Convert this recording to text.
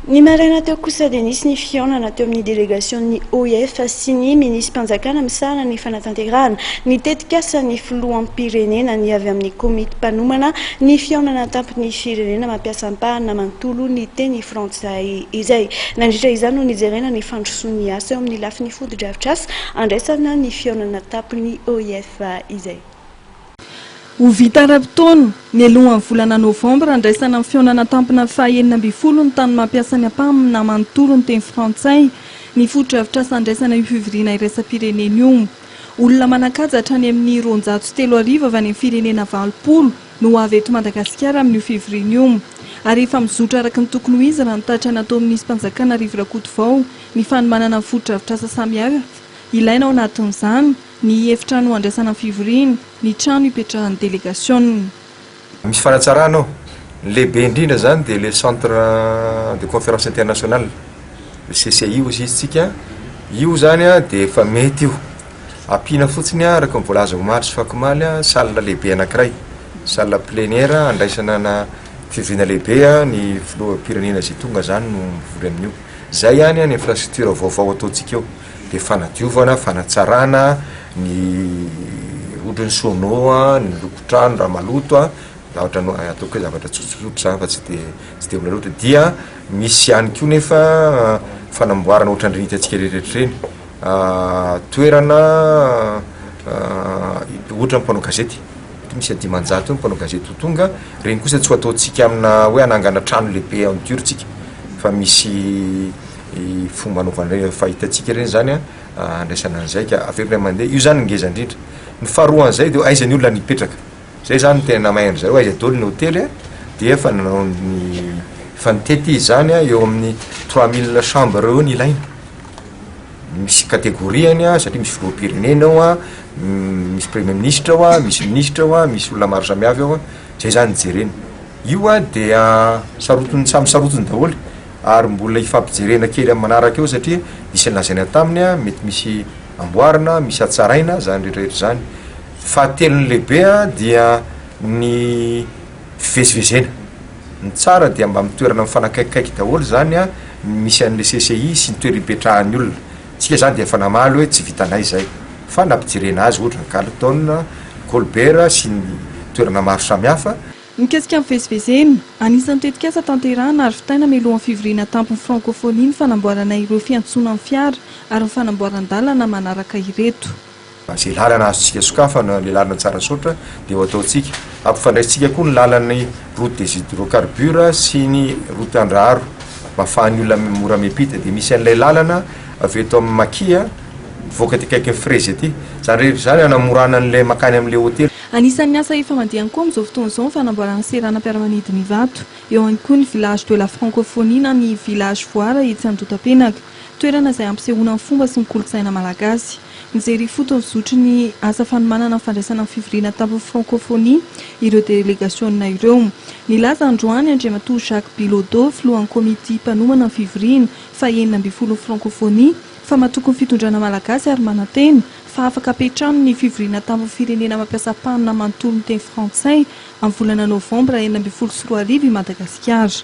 Ny maraina teo kosa dia nisy ny fihaonana teo amin'ny delegasion'ny OIF sy ny minisi-panjakana misahana ny fanatanterahana ny tetikasan'ny filoham-pirenena ny avy amin'ny komity mpanomana ny fihaonana an-tampon'ny firenena mampiasa ampahana manontolo ny teny frantsay izay nandritra izany no nijerena ny fandrosoan'ny asa eo amin'ny lafiny fotodrafitrasa andraisana ny fihaonana an-tampon'ny OIF izay Ho vita ara-potoana, mialohan'ny volana novambra, handraisana amin'ny fihaonana tampona fahaenina ambin'ny folo ny tany mampiasa ny Apam na manontolo ny teny frantsay, ny fotodrafitrasa handraisana io fivoriana iraisam-pirenena io. Olona manan-kaja hatrany amin'ny roanjato sy telo arivo avy any amin'ny firenena valopolo no ho avy eto Madagasikara amin'io fivoriana io ary efa mizotra araka ny tokony ho izy raha ny tatra nataon'ny Minism-panjakana Rivo Rakotovao ny fanomanana ny fotodrafitrasa samihafa ilaina ao anatin'izany ny efitrano handraisana ny fivoriana, ny trano hipetrahan'ny delegasiona. Misy fanatsarana ao. Ny lehibe indrindra izany dia ilay Centre de Conférence Internationale, le CCI hozy izy tsika. Io izany dia efa mety io. Ampiana fotsiny araka ny voalaza omaly sy fakomaly, salle lehibe anankiray, salle plénière handraisana ana fivoriana lehibe, ny filoham-pirenena izay tonga izany no mivory amin'io. Izay ihany ny infrastructure vaovao ataontsika eo. dia fanadiovana, fanatsarana ny ohatra ny sono a, ny lokon-trano raha maloto a, za ohatra ny hoe ataoko hoe zavatra tsotsotra zany fa tsy dia tsy dia mbola loatra, dia misy ihany koa nefa fanamboarana ohatran'ireny hitantsika rehetra ireny toerana ohatra ny mpanao gazety, mety misy dimanjato eo ny mpanao gazety ho tonga, ireny kosa tsy ho ataontsika amina hoe hanangana trano lehibe en dur tsika fa misy fomba anaovana ireny efa hitantsika ireny zany an, handraisana ny zaika avy eo ilay mandeha, io zany no ngeza indrindra, ny faharoan'izay dia aiza ny olona no hipetraka, zay zany no tena namaihany zareo, aiza daholo ny hotely an, dia efa nanao ny efa nitety izy zany an, eo amin'ny trois mille chambres eo no ilaina, misy categoriany an, satria misy filoham-pirenena ao an, misy premier ministra ao an, misy ministra ao an, misy olona maro samy avy ao an, zay zany no jerena, io an dia sarotin'ny samy sarotiny daholo. ary mbola hifampijerena kely amin'ny manaraka eo satria nisy ny lazaina taminy a, mety misy amboarina, misy hatsaraina, izany rehetra rehetra izany. Fahatelo ny lehibe a, dia ny fivezivezena, ny tsara dia mba mitoerana mifanakaikikaiky daholo izany a, ny misy an'ilay CCI sy ny toerana ipetrahan'ny olona, isika izany dia efa namaly hoe tsy vitanay izay, fa nampijerena azy ohatra ny Carlton, Colbert sy ny toerana maro samihafa. Mikasika ny fivezivezena, anisan'ny tetikasa tanterahana ary vitaina mialohan'ny fivoriana an-tampon'ny Frankofonia ny fanamboarana ireo fiantsonan'ny fiara ary ny fanamboaran-dalana manaraka ireto. Izay lalana azontsika sokafana ilay lalana Tsarasaotra dia ho ataontsika. Hampifandraisintsika koa ny lalan'ny route des hydrocarbures sy ny route Andraharo mba afahan'ny olona mora miampita. Dia misy an'ilay lalana avy eto amin'ny Makia mivoaka aty akaikin'ny Frezy aty. Izany rehetra izany hanamorana an'ilay mankany amin'ilay hotely. Anisan'ny asa efa mandeha ihany koa amin'izao fotoana izao ny fanamboarana ny seranam-piaramanidina Ivato. Eo ihany koa ny Village de la Francophonie na ny Village Voara etsy Andotapenaka. Toerana izay hampisehoana ny fomba sy ny kolontsaina malagasy. Mijery ifotony ny zotry ny asa fanomanana ny fandraisana ny fivoriana tampony Francophonie ireo delegasiona ireo. Nilaza androany Andriamatoa Jacques Bilodeau, filohan'ny komity mpanomana ny fivoriana faha enina ambin'ny folon'ny Francophonie, fa matoky ny fitondrana malagasy ary manantena, fa afaka hapetrany ny fivoriana tampony firenena mampiasa mpanina manontolo miteny frantsay amin'ny volana novambra enina ambin'ny folo sy roa arivo i Madagasikara.